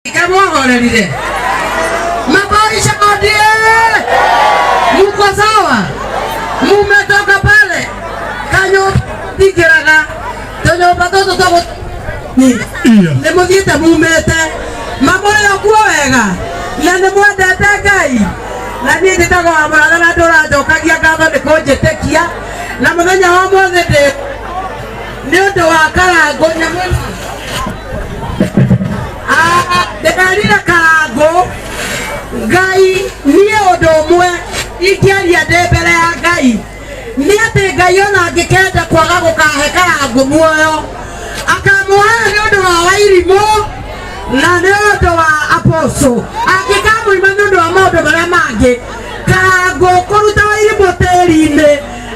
Iga mwaholerire mabaisha madie, muko sawa? Mumetoka pale kanyo tikiraga tonyo batoto togo ni Iya. ni muthiite mumete mamoyo kuo wega na ni mwendete Ngai na niĩ njĩtagwo Amũratha na ndũranjokagia ngatho nĩ kũnjĩtĩkia na mũthenya wa ũmũthĩ ndĩ nĩ ũndũ wa karangũ nyamũ ĩno. Ah, ndĩrerire karangũ ngai niĩ ũndũ ũmwe ingĩaria ndĩ mbere ya ngai nĩ atĩ ngai ona angĩkenda kwaga gũkahe karangũ muoyo akamũhaya nĩ ũndũ wa wairimũ na nĩ ũndũ wa aposo angĩkamũima nĩ ũndũ wa maũndũ marĩa mangĩ karangũ kũruta wairimũ tĩri-inĩ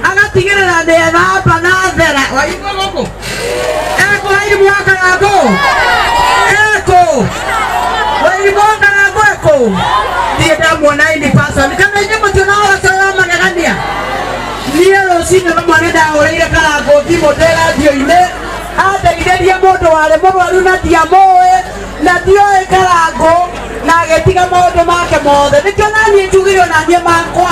agatigĩrĩra nĩ ethamba na thera waigua gũkũ ekũ wairimu wa karangũ ekũ wairimu wa karangũ ekũ niĩ ndamuona ini person kana inyuĩ mũtiona wacoya magegania niĩ rũcinĩ rũmwe nĩ ndahũrĩire karangũ thimũ ndĩ radio-inĩ andeithĩrie mũndũ warĩ mũrwaru na ndiamũĩ na ndioĩ karangũ na agĩtiga maũndũ make mothe nĩkĩo naniĩ njugire onaniĩ makwa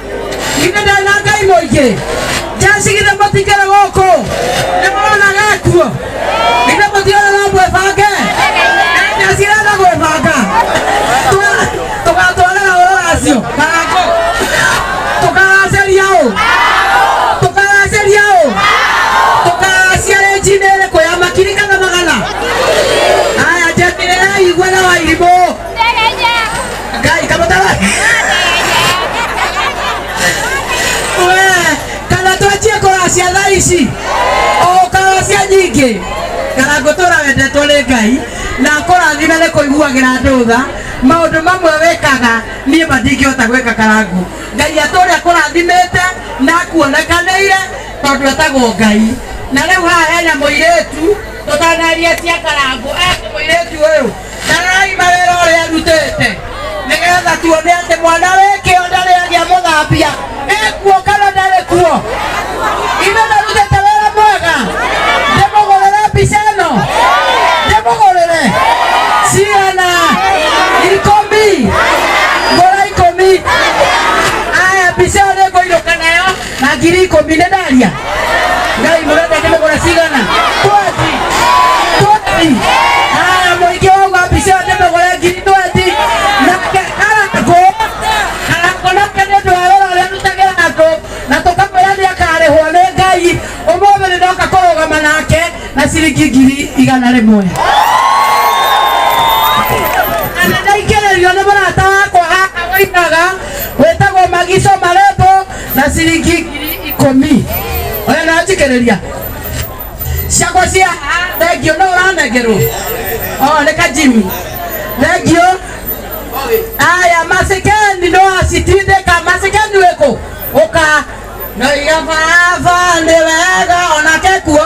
githĩ ndarĩ na ngai mũingĩ njeci githĩ mũtikĩrĩ gũkũ nĩ mũrona gekuo githĩ mũtiona no mwĩbange na njeci renda gwĩbanga Twa- tũgatwarĩra ũũ racio karangũ tũkaracĩria ũ tũkaracĩria ũ tũkaracia rĩnjinĩ ĩrĩkũ ya makiri kana magana aya njeci rĩraigua na wairimũ Gai, kamu tahu? We, kana twajie kũracia thaa ici o karacia nyingĩ kana ngũtũra wendetwo nĩ ngai na kũrathime nĩ kũiguagĩra andũ tha maũndũ mamwe wĩkaga niĩ ma ndingĩhota gwĩka karangũ ngai atũre akũrathimĩte na akuonekanĩire tondũ etagwo ngai na rĩu haha hena mũirĩtu tũtanaria cia karangũ aya nĩ mũirĩtu ũyũ Tarai mawĩra ũrĩa arutĩte nĩgetha tuone atĩ mwana wĩ kĩonda rĩagĩa mũthambia ĩkuo kana ndarĩ kuo ithe narutĩte wĩra mwega ndĩmũgũrĩre mbica ĩno ndĩmũgũrĩre cigana ikũmi ngũra ikũmi aya mbica ĩyo nĩngũinũka nayo na ngiri ikũmi nĩ ndaria ngai mũrenda kĩmĩgũra cigana twati twati haya mũingĩ wauga mbica ĩyo ndĩmĩgũre ngiri twati nake arakũ arakũ nake nĩ ũndũ wa wĩra ũrĩa arutagĩra andũ na tũkamwĩra nĩ akarĩhwo nĩ ngai ũmũthĩ nĩ ndoka kũrũgama nake na ciringi ngiri igana rĩmwe na ndaingĩrĩrio nĩ mũrata wakwa haha wainaga wĩtagwo magico marembo na ciringi ngiri ikũmi oya na njikĩrĩria ciakwa cia thengio no ũranengerwo o nĩ kajimi thengio aya macikeni no acitindĩka macikeni wĩkũ ũka noiga baba nĩ wega onake kuo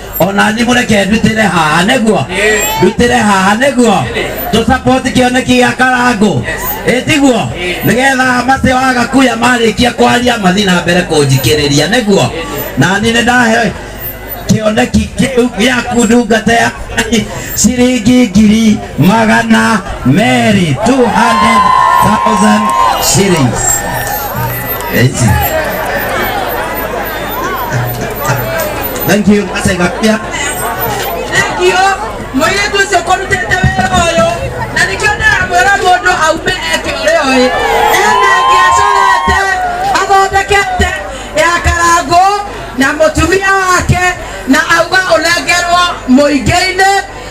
onanyi mureke ndutire haha niguo ndutire haha niguo tu support kioneki gĩa karangu ĩtiguo nĩgetha macio agakuya marĩkia kwaria mathi na mbere kũnjikĩrĩria nĩguo nani nĩ ndahe kĩoneki kĩu gĩaku ndungata ya Ngai ciringi ngiri magana meri 200,000 shillings. Eti. Thank you. Asa ikapia. Thank you. Mũirĩtu ũcio kũrutĩte wĩra ũyũ na nĩkĩo ndĩramwĩra mũndũ aume eke ũrĩa ũĩ ena ngĩacorete athondekete ya karangũ na mũtumia wake na auga ũnengerwo mũingĩ-inĩ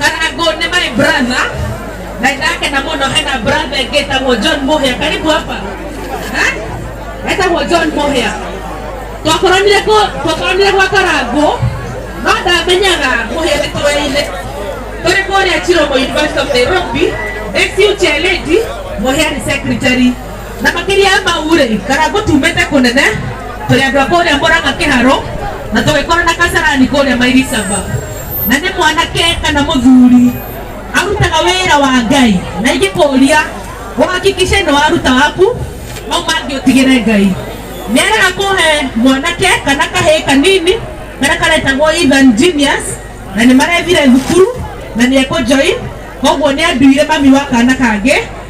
kana go ni my brother dada yake na mono hena brother yake tagwo John Muhia karibu hapa eh etagwo John Muhia twakoranire ko twakoranire gwa karango no ndamenyaga Muhia nĩ tũraine tũrĩ kũrĩa Chiromo University of Nairobi SU Cheledi Muhia ni secretary Na makiria ya mau ri, Karangu tumite kunene, turi andu a kuria Murang'a Kiharu, na tugikorana Kasarani kuria Mairi Saba. Na ni mwanake kana muthuri arutaga wira wa Ngai, na ingikuria uhakikishe ni waruta waku, mau mangi utigire Ngai. Nierira kuhe mwanake kana kahii kanini karia karetagwo Ethan Genius, na ni marethire thukuru na ni eku join, koguo ni anduire mami wa kana kangi.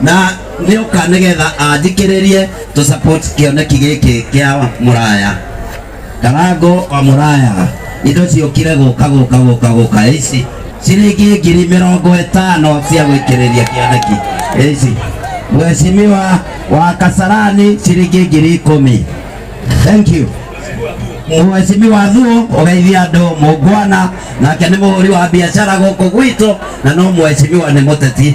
na nä å ka nä getha anjikä rä rie tå support kĩoneki gä kä kä a mũraya karango wa mũraya indo ciokire gå ka gå ka gå ka gå ka ici ciringi ngiri mä rongo ä tano cia gwä kä rä ria kĩoneki ici mwecimiwa wa kasarani ciringi ngiri ikũmi thank you mwecimi wa thuo ũgeithia andũ mũngwana nake nĩ mũhũri wa biacara gũkũ gwitũ na no mwecimiwa nĩ mũteti